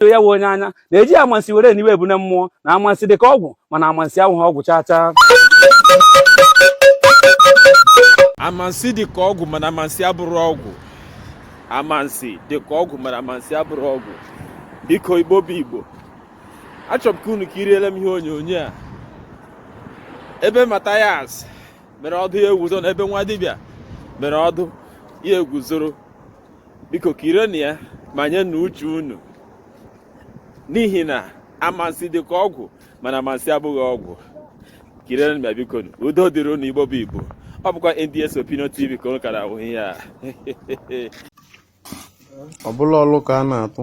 so ya wụ onye anya na-eji amansi were niwe ebune mmụọ na amansi dịka ọgwụ mana amansi awụghị ọgwụ chaa chaa amansi dịka ọgwụ mana amansi abụrọ ọgwụ amansi dịka ọgwụ mana amansi abụrọ ọgwụ biko igbo bụ igbo achọrọ m ka unu kiriele m ihe onyonyo a ebe Mathias mere ọdụ ya egwuzoro na ebe nwa dibịa mere ọdụ ya egwuzoro biko kirienu ya ma nye na uche unu n'ihi na amansi dị ka ọgwụ mana amansi abụghị ọgwụ kirienu ya biko udo dịrị unu igbo bụ igbo ọ bụkwa NDS Opinion TV ka unu kara ahụ ihe a ọ bụla ọlụ ka a na-atụ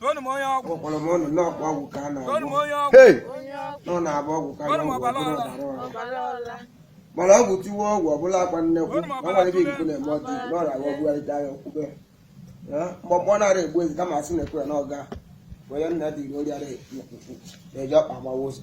Toonu m onye ọgwụ. Ọkpọrọ m ọnụ n'ọkpọ ọgwụ ka a na-agwọ. Toonu m onye ọgwụ. Hey! Nọ na-agba ọgwụ ka a Toonu m na-agwọ ọbara ọbara ọla. ọbara ọla. Mana ọgwụ tiwe ọgwụ ọbụla akwa nnekwu. Toonu m Na ọbara nwere ebe ọla. ikuku na-eme ọdị na ọrịa agwọ bugharịta ya okwube. Mgbọgbọ nara egbu ezi kama asị na-ekwe ya n'ọga. Were nna dị iri orịara ekwukwu na-eji ọkpa agbawa ụzọ.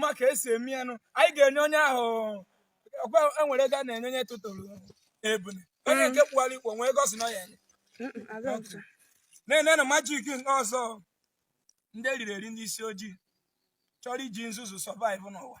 maka esi eme ya nụ anyị ga-enye onye ahụ enwere ego a na-enye onye tụtụrụ ebune onye nke kpụwara ikpo nwee gosi na ya na-ene na magic nke ọzọ ndị eriri eri ndị isi ojii chọrọ iji nzuzu survive n'ụwa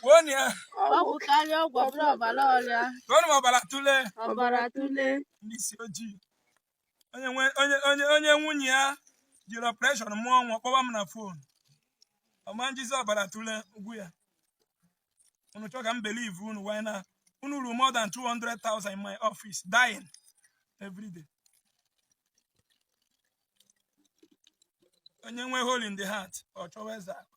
Gbuonu ya. Ọgwụ karịa ọgwụ ọbụla ọbara ọla. Toonu m ọbara tụle. Ọbara tụle. Ndị isi ojii. Onye nwunye ya jiri operation mụọ nwa kpọba m na phone. Ọma njizi ọbara tụle ugwu ya. Unu chọọ ka m believe unu why na unu ruru more than 200,000 in my office dying every day. Onye nwe hole in the heart ọ chọwa eze akụ.